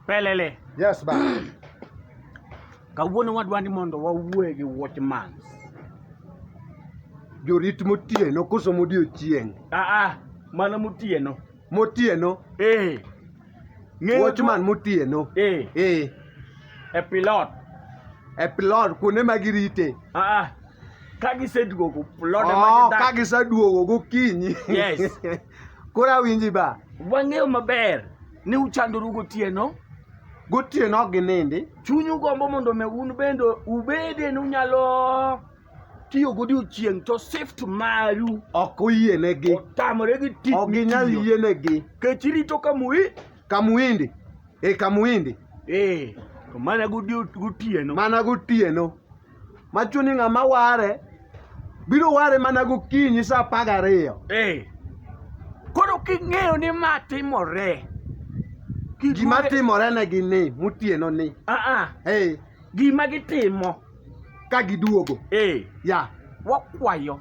Pelele. Yes, ba. Kawuono wadwa ni mondo wawuoe gi watchman. Jorit motieno koso modiechieng'. Ah ah, mano motieno. Motieno. Eh. Ng'eyo jo- Watchman motieno. Eh. Eh. E pilot. E pilot kuonde ma girite. Ah ah. Ka giseduogo pilot ema Oh, gidak. ka giseduogo gokinyi. Yes. Koro awinji ba. Wang'eyo maber ni uchandoru gotieno. Gotieno ok ginindi. Chunyu gombo mondo me un bende ubede ni unyalo tiyo godiochieng' to shift maru ok oyienegi otamore gi tich ok ginyal mitiyo. yienegi kech irito ka mui kamuindi e kamuindi ee to mana godio- gotieno mana gotieno machuni ng'ama ware biro ware mana gokinyi sa apar gariyo ee koro king'eyo ni ma timore gima timorenegi ni motieno ni aa ee gima gitimo ka giduogo eh. ya wakwayo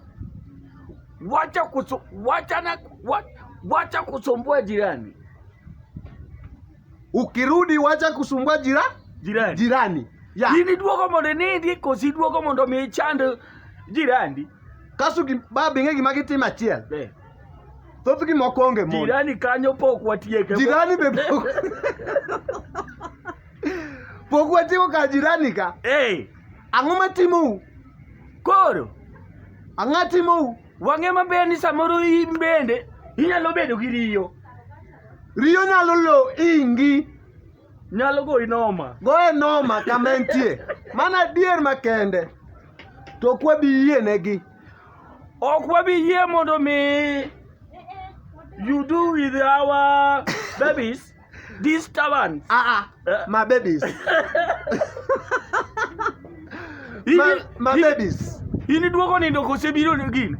wacha kusu, wacha na, wa, wacha kusumbua jirani ukirudi wacha kusumbua jira, jirani, jirani. Ya. in iduogo mondo inindi kosi iduogo mondo mi ichand jirani kaso ba bing'e gima gitimo achiel eh. thothgi moko onge mon jirani kanyo pok watieke jirani be pok Pok watimo ka jirani ka. Hey. Ang'o matimou? Koro. Ang'a timou? Wang'e maber ni samoro in bende inyalo bedo gi riyo. Riyo nyalo lo ingi. Nyalo goyi noma. Goye noma kama entie. Mana adier makende. To ok wabi yie negi. Ok wabi yie mondo mi you do with our babies. Disturbance. Ah, ah. Eh. My babies. my, my babies. Ini duogo nindo kose biro ni gin.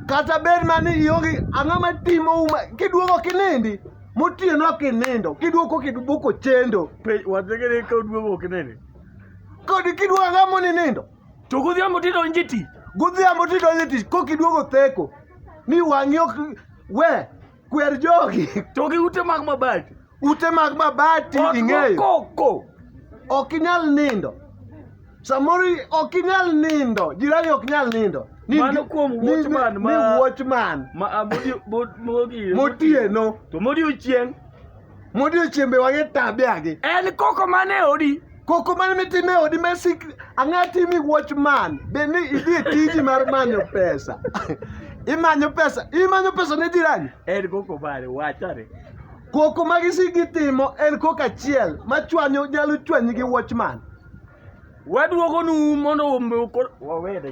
Kata bed mani ionge ang'o ma timo uma kiduogo kinindi motieno ok inindo kiduoko kiduoko chendo. Pe wategere ka duogo ok inindi. Kodi kiduogo ang'o moninindo? To godhiambo tidonje tich. Godhiambo tidonje tich kokiduogo theko. Ni wang'i ok we Kwer jogi. To gi ute mag mabati. Ute mag mabati ing'eyo. Koko. Ok inyal nindo. Samoro ok inyal nindo. Jirani ok inyal nindo. Mano kuom watchman ma. Ni watchman. Ma ah, motieno. To modiochieng'. modiochiembe wang'e tabiagi en koko mane odi koko mane mitime odi mesik ang'e timi watch man be ni idhi e tiji mar manyo pesa imanyo pesa imanyo pesa ne jirani en koko mane wachare koko ma gisigi timo en koko achiel ma chwanyo nyalo chwanyi gi watchman waduogonu mondo wawede